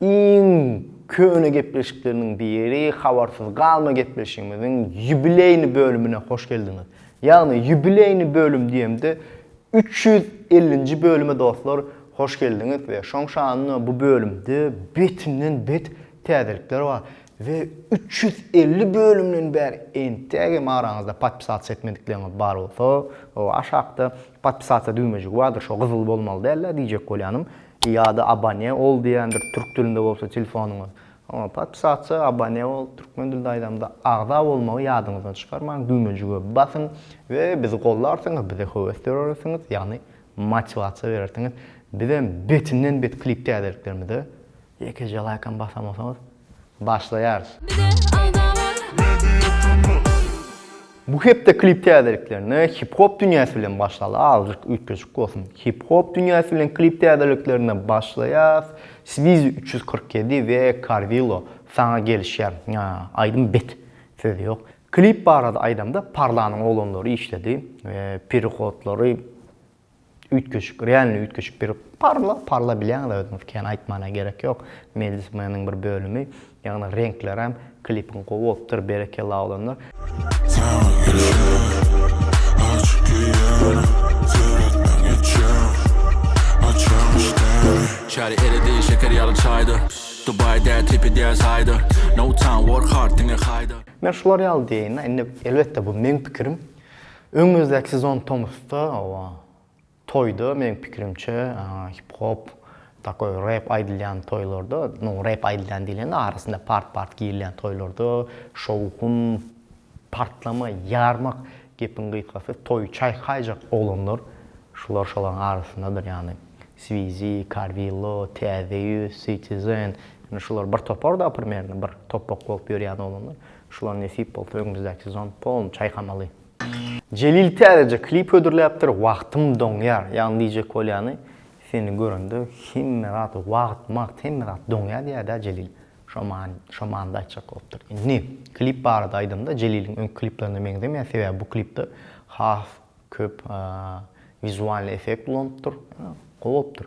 Iň köne gepleşikleriniň biri Habarsyz galma gepleşigimiziň ýubileýni bölümine hoş geldiňiz. Ýagny ýubileýni bölüm diýemde üç ýüz ellinji bölüme dostlar hoş geldiňiz we şoň şanyna bu bölümde betinden bet täzelikler bar we üç ýüz elli bölümden bäri entäk hem araňyzda podpisasiýa etmedikleriniz bar bolsa o aşakda podpisasiýa düwmejigi bardyr şo gyzyl bolmaly dälä diýjek bolýanym. Ýa-da abone ol diýendir türk dilinde bolsa telefonyňyz. Oňa podpisatsa, abone ol, türkmen dilinde aýdamda agza bolmagy ýadyňyzdan çykarmaň, düwmejige basyň we bizi gollarsyňyz, bize höwes dörersiňiz, ýagny motiwasiýa berersiňiz. Bizem betinden bet klip täzeliklerimize ýekeje laýkam basamasaňyz. Başlaýarys. Bu hepde klip täzeliklerine hip hop dünýäsi bilen başlaly azjyk üýtgeşik bolsun. Hip hop dünýäsi bilen klip täzeliklerine başlaýas Swizi üç ýüz kyrk ýedi we Karwilo saňa gelişýär aýdym bet söz ýok. Klip barada aýdamda Parlanyň oglanlary işledi we perihodlary Üýtgeşik, realnyý üýtgeşik bir parla, parla bilýäňizä özüňiz kän aýtmana gerek ýok. Mejlis meniň bir bölümi, ýagny reňklerem, klipiň gowy bolupdyr, berekella oglanlar. Saňa gelşem, açyk geýýärin, seretmän geçýän, açýaň işdäni. Çary eridi şeker ýaly çaýda, Dubai däl tipi däl saýda, No time work hard diňe haýda. Men şular ýaly diýeýin-dä, indi elbetde bu meň pikirim. Öňümizdäki sezon tomusda oba toýda meniň pikirimçe hip hop takoý rep aýdylýan toýlarda nu rep aýdylýan diýlende arasynda part part girilýän toýlarda şowhun partlama ýarmak gepiň gysgasy toýy çaýkaýjak oglanlar şular şolaryň arasyndadyr ýagny swizi karwillo täze ýüz sitizen ýagny şular bir toparda primerne bir topak bolup ýörýän oglanlar Şular nesip bolsa öňümizdäki sezon polny çaýkamaly. Jelil täzeje klip hödürläpdir wagtym doňýar ýagny diýjek bolýany seni görende hemme zat wagt magt hemme zat doňýa diýädä Jelil şo many şo manyda aýtjak bolupdyr indi klip barada aýdamda Jeliliň öňki kliplerine meňzemeýär sebäbi bu klipde has köp wizualny effekt ulanypdyr gowy bolupdyr.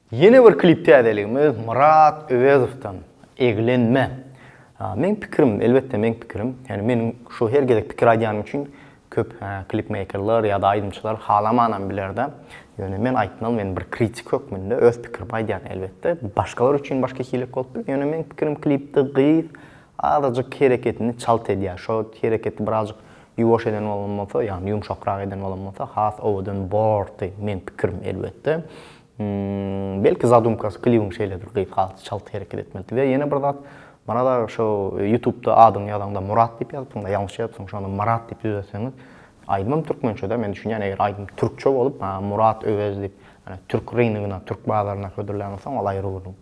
Ýene bir klip täzeligimiz Myrat Öwezowdan Eglenme. Meň pikirim, elbetde meň pikirim, ýagny meniň şu her gezek pikir aýdýanym üçin köp klipmeýkerler ýa-da aýdymçylar halamanam biler-de. Ýöne men aýtmaly, men bir kritik hökmünde öz pikirimi aýdýan elbetde. Başgalar üçin başga hilek bolup biler. Ýöne meň pikirim klipde gyz azajyk hereketini çalt edýär. Şo hereketi birazjyk ýuwaş eden bolan bolsa, ýagny ýumşakrak eden bolan bolsa has owadan bordy, meň pikirim elbetde. Belki zadumkasy klibiň şeýledir gyz has çalt hereket etmelidi we ýene bir zat Marat aga şo ýutubda adyňy ýazaňda Murat diýip ýazypsyňda ýalňyş ýazypsyň şony Marat diýip düzetseňiz aýdymym türkmençede men düşünýän eger aýdym türkçe bolup Murat Öwez diýip türk ryngyna türk bazaryna hödürlän bolsaň ol aýry gürrüň.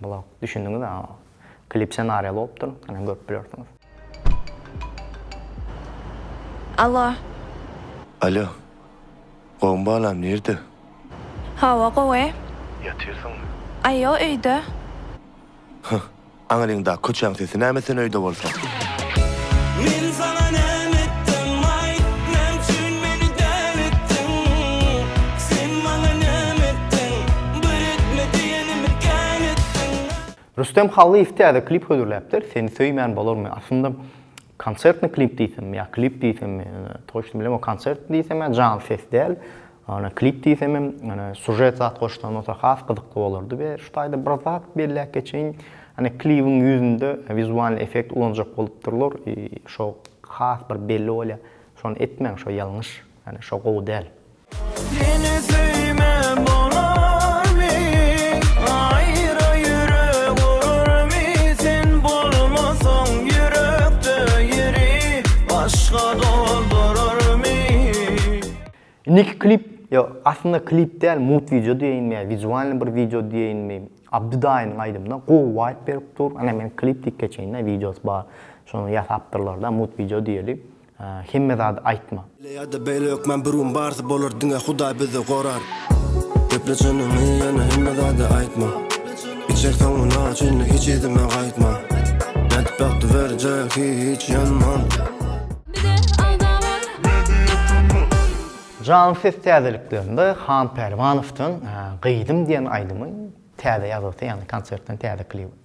Blog. Düşündiňiz a. Klip senariýa bolupdyr. Ine görüp bilersiňiz. Allo. Allo. Gowmy balam nirde. Hawa gowy. Ýatyrsyňmy. Aýo öýde. Hyh. Aňryň da köçäň sesi näme sen öýde bolsaň. Men saňa näme etdim aýt. Näme üçin meni däl etdiň. Sen maňa näme etdiň. Bir etme diýen. Rüstem Hallyýew täze klip hödürläpdir, Seni söýmän bolarmy? Aslynda konsertni klip diýsemmi ýa klip diýsemmi, toçny bilemok, konsert diýsem ýa janly ses däl, ýöne klip diýsemem, ýöne sužet zat goşsaň bolsa has gyzykly bolardy we şu taýda bir zat belläp geçeýin, ýöne klibiň ýüzünde wizualnyý effekt ulanjak bolupdyrlar, şo has bir belli bolýar, şony etmäň, şo ýalňyş, ýöne şo gowy däl. Indiki klip, yo aslynda klip däl, mut wideo diýeýinmi ýa wizualny bir wideo diýeýinmi, Abdy daýynyň aýdymyna gowy waýp berip dur. Ine men klip diýip geçeýin-de, wideosy bar. Şony ýasapdyrlar-da, mut wideo diýeli. Hemme zady aýtma. Beýle ýa-da beýle hökman bir gün barsi bolar diňe Hudaý bizi gorar. Gepla çynyňy ýöne hemme zady aýtma. Içek soňuna çenli hiç yzyma gaýtma. Betbagty berjek hiç ýanman. Jaň ses täzeliklerinde Han Pälwanowdan Gyzym diýen aýdymyň täze ýazgysy ýagny konsertden täze klibi.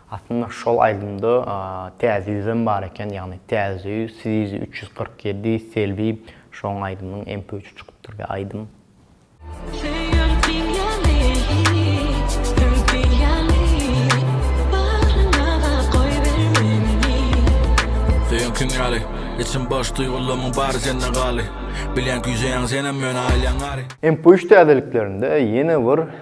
Aslynda şol aýdymda täze ýüzem bar eken ýagny täze ýüz sizi üç ýüz kyrk ýedi selbi şoň aýdymyň mp üçi çykypdyr we aýdym. Söýeňkiň ýaly Içim boş duýgularymyň bary sende galy Bilýän küýseýäň senem ýöne aýlaň ary. Mp üç täzeliklerinde ýene bir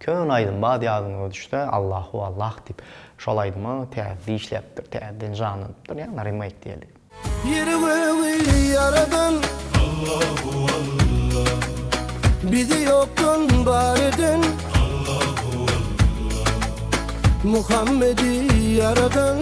Köne aýdym bad ýadyňyza düşse Allahu Allah diýip şol aýdyma täzede işläpdir täzeden janlanypdyr ýagny remake diýeli. Ýeri gögi ýaradan Allahu Allah Bizi ýokdan bar eden Allahu Allah Muhammedi ýaradan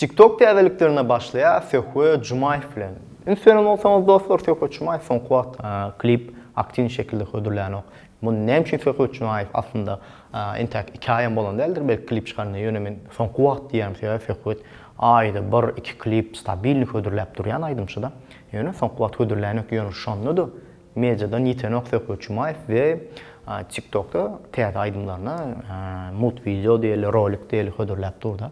Tiktok täzeliklerine başlaýas Söhbe Jumaýew bilen. Üns beren bolsaňyz dostlar Söhbet Jumaýew soňky wagt klip aktiwny şekilde hödürlänok. Muny näme üçin Söhbet Jumaýew aslynda entäk iki aýam bolan däldir belki klip çykaranda ýöne men soňky wagt diýýän sebäbi Söhbet aýda bir iki klip stabilni hödürläp durýan aýdymçyda. Ýöne soňky wagt hödürlänok ýöne şondada mediadan ýitenok Söhbet Jumaýew we Tiktokda täze aýdymlaryny mult wideo diýeli rolik diýeli hödürläp durda.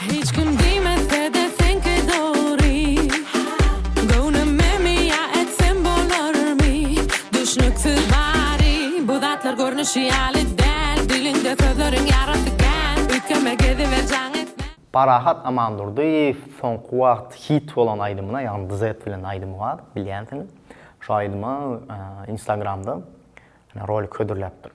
Hiç kim diýmese-de seňki dogry Göwnüme miýa etsem bolarmy Düşnüksiz bary Bu zatlar görnüşi ýaly däl Diliňde sözleriň ýarasy kän Üýtgeme geziber jaň etmän. Parahat Amandurdyýew soňky wagt hit bolan aýdymyna ýagny Duzet bilen aýdymy bar bilýänsiňiz. Şo aýdyma instagramda rolik hödürläpdir.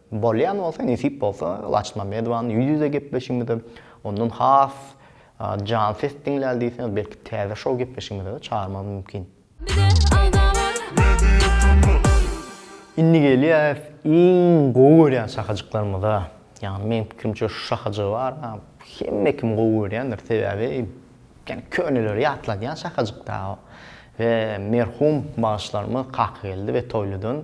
Bolýan bolsa, nesip bolsa, Laçyn Mammedowany ýüz-ýüze gepleşigimize, ondan has jan ses diňläli diýseňiz, belki täze şou gepleşigimize-de çagyrmagymyz mümkin. Indi gelýäs iň gowy görýän şahajyklarymyza. Ýagny meň pikirimçe şu şahajygy bar, hemme kim gowy görýändir, sebäbi ýene köneleri ýatladýan şahajyk da we merhum bagşylarymyz Kakageldi we Toýlydan.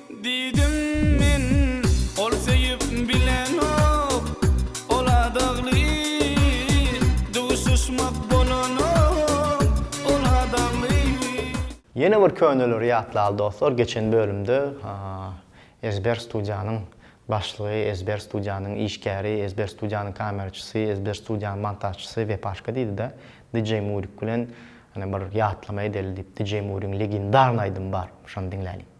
Diýdim men, Ol söýüp bilenok, ol adagly, Duşuşmak bolanok, ol adagly. Ýene bir köneleri ýatlaly dostlar geçen bölümde Ezber studiýanyň başlygy, Ezber studiýanyň işgäri, Ezber studiýanyň kameraçysy, Ezber studiýanyň montažçysy Wepaşka diýdida DJ Murik bilen bir ýatlama edeli diýip DJ Murigiň legendarny aýdymy bar şony diňläliň.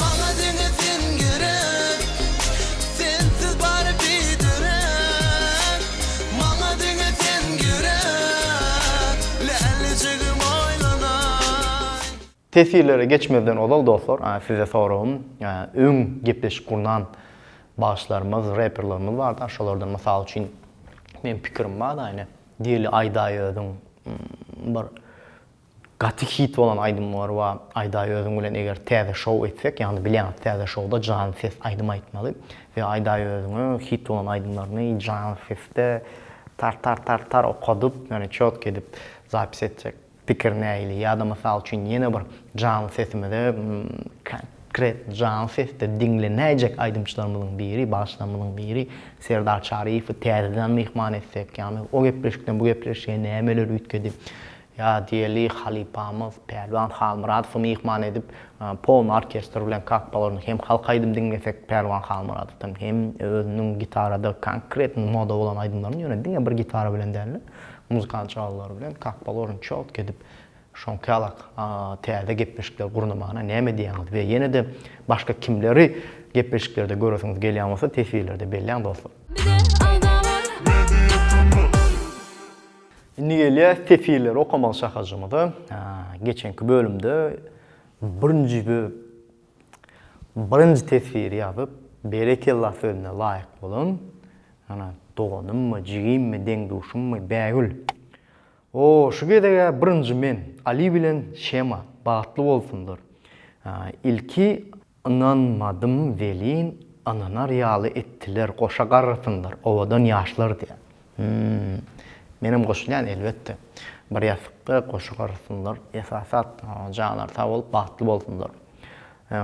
Maňa diňe sen gerek Sensiz bary biderek Maňa diňe sen gerek Lälijigim aýlanaý. Teswirlere geçmezden ozal dostlar size soragym öň gepleşik gurnan bagşylarymyz reperlarymyz barda şolardan mysal üçin men pikirim barda ine Deli Aýdaýöziň bir Gaty hit bolan aýdymlar ba Aýdaý özüň bilen eger täze şou etsek ýagny bilýäňiz täze şowda janly ses aýdym aýtmaly we Aýdaý özüňe hit bolan aýdymlaryny janly sesde tar tar tar tar okadyp ýöne çotky edip zapis etjek pikir nähili ýada mysal üçin ýene bir janly sesimize konkret janly sesde diňlenäýjek aýdymçylarymyzyň biri bagşylarymyzyň biri Serdar Çaryýewi täzeden myhman etsek ýagny o gepleşikden bu gepleşige nämeler üýtgedi Ýadygeli halypamyz Pälwan Halmyradowy myhman edip, Pony orkestr bilen kakbalaryny hem halk aýdym diňlesek, Pälwan Halmyradowdan hem özüniň gitarada konkretno moda bolan aýdymlaryny, ýöne diňe bir gitara bilen däl-de, muzykant çalgylary bilen kakbalaryny çalt edip, şoňkalak täze gepleşikler gurnamana näme diýýäňiz we ýene-de başga kimleri gepleşiklerde göresiňiz gelýän bolsa teswirlerde belläň dostlar. Bize agzalar. Media Sungat. Indi gelýä sefirleri okamaly şahajymyza. Geçenki bölümde birinji birinji teswiri ýazyp, berekella sözüne laýyk bolan, ana, doganymmy, jigimmi, deň-duşummy, Bägül. O, şu gezeg-ä birinji men, Ali bilen Şema, bagtly bolsunlar. Ilki Ynanmadym welin ynanar ýaly etdiler goşa garrasynlar owadan ýaşlar diýä. Hmmm. Menem goşulýan elbetde. Bir ýasykda goşa garrasynlar esasat janlar sag bolup bagtly bolsunlar.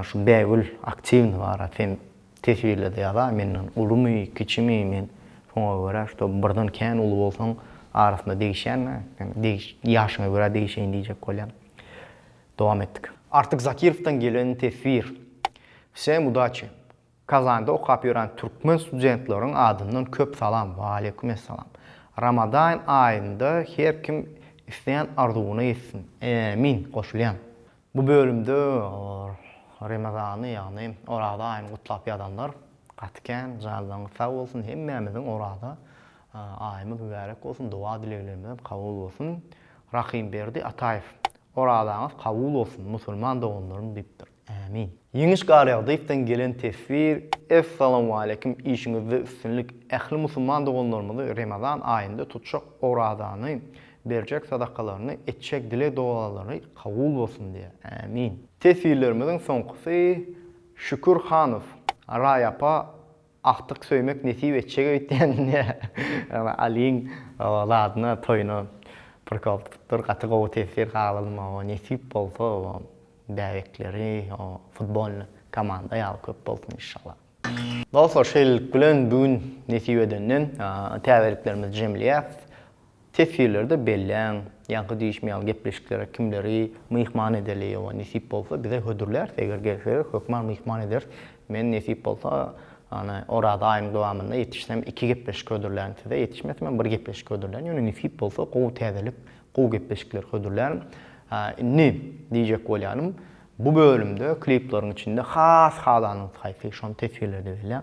Şu Bägül aktiwny bara sen teswirlede ýaza menden ulumy kiçimi men şoňa görä şto birden kän uly bolsaň arasynda degişýänä sen degiş ýaşyňa görä degişeýin diýjek bolýan. Dowam etdik. Artyk Zakirowdan gelen teswir. Wsem udaçi. Kazanda okap ýören türkmen studentleriň adyndan köp salam. Waleýkum essalam. Ramadain aýynda her kim isleýän arzuwyna ýetsin. Ämin! Goşulýan. Bu bölümde Remazany ýagny oraza aýyny gutlap ýazanlar gaty kän. Janlaryňyz sag bolsun. Hemmämiziň oraza aýymyz mübärek bolsun. Doga dileglerimiz hem kabul bolsun. Rahymberdi Ataýew Orazaňyz kabul bolsun musulman doganlarym diýipdir. Ämin. Ýeňiş Garýagdyýewden gelen teswir Essalamualeýkum işiňizde üstünlik ähli musulman doganlarymyzy Remezan aýynda tutjak orazany berjek sadakalaryny etjek dileg dogalary kabul bolsun diýä. Ämin. Teswirlerimiziň soňkusy Şükür Hanow Raý apa Agtyk söýmek nesip etjek öýtýän indi Aliň zadyna toýuna prikol tutupdyr gaty gowy tesir galalym oba nesip bolsa oba bäbekleri oba futbolny komanda ýaly köp bolsun inşallah. Dostlar şeýlelik bilen bu gün nesip edenden täzeliklerimizi jemleýäs. Teswirlerde belläň, ýaňky diýişim ýaly gepleşiklere kimleri myhman edeli, ýowa, nesip bolsa bize hödürläris, eger gelseler hökman myhman ederis. Men nesip bolsa, ýöne Oraza aýynyň dowamynda ýetişsem iki gepleşik hödürlän size, ýetişmesem hem bir gepleşik hödürlän, ýöne nesip bolsa gowy täzelik, gowy gepleşikler hödürlärin. Indi diýjek bolýanym, bu bölümde klipleriň içinde has halanyňyz haýsy, şony teswirlerde belläň.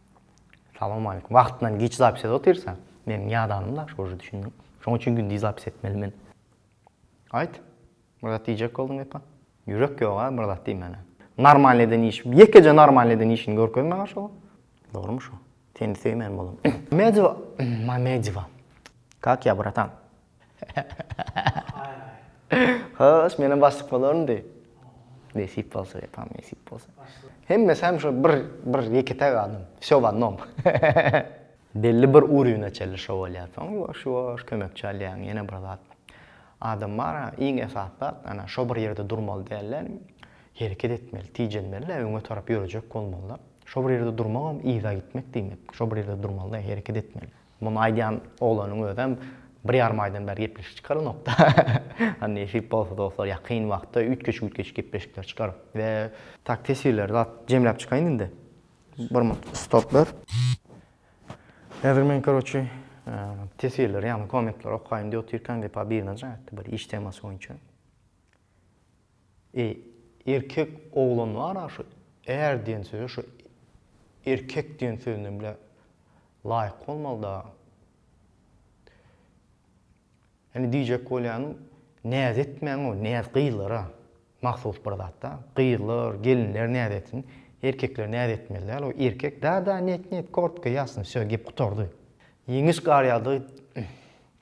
Salam aleýkum. Wagtyndan giç zapis edip otyrsa, meniň ýadanym daş goja düşündiň. Şoň üçin gündiz zapis etmeli men. Aýt. Bir zat diýjek bolduň epa. Ýürek ýoga bir zat diýmäne. Normalny eden iş. Ýekeje normalny eden işini görkezme garşyga. Dogrymy şu? Seni söýmän bolam. Medewa, Mamedeva. Kak ya bratan. Hoş, menem başlyk bolaryn diý. Nesip bolsa ýapam, nesip bolsa. Hemmesi hem şo bir, bir ýeke-täk adam. Şowannom. Belli bir urwine çenli şo bolýar. Soň ýuwaş-ýuwaş kömekçi alýaň, ýene bir zat. Adam bar-a, iň esasy zat, ana, şo bir ýerde durmaly däl-de, hereket etmeli, tijenmeli-de, öňe tarap ýörejek bolmaly-da. Şo bir ýerde durmagam yza gitmek diýmek. Şo bir ýerde durmaly-da, hereket etmeli. Muny aýdýan oglanyň özem bir ýarym aýdan bäri gepleşik çykarylmapda. Hany nesip bolsa dostlar ýakyn wagtda üýtgeşik-üýtgeşik gepleşikler çykar we. Tak teswirleri zat jemläp çykaýyn indi. Bir murt stop ber. Häzir men karoçi teswirleri ýagny kommentleri okaýyn diýip otyrkam Wepa birine jaň etdi bir iş temasy boýunça. Eý, erkek oglan bar-a şu är diýen söze şu erkek diýen sözünden bile laýyk bolmalyda. Indi diýjek bolýanym, näz etmäň-ow, näz gyzlara mahsus bir zat-da. Gyzlar, gelinler näz etsin. Erkekler näz etmeli däl, o erkek, da-da, net-net, kortko, ýasno, wsýo, gep gutardy. Ýeňiş gar ýaly-da.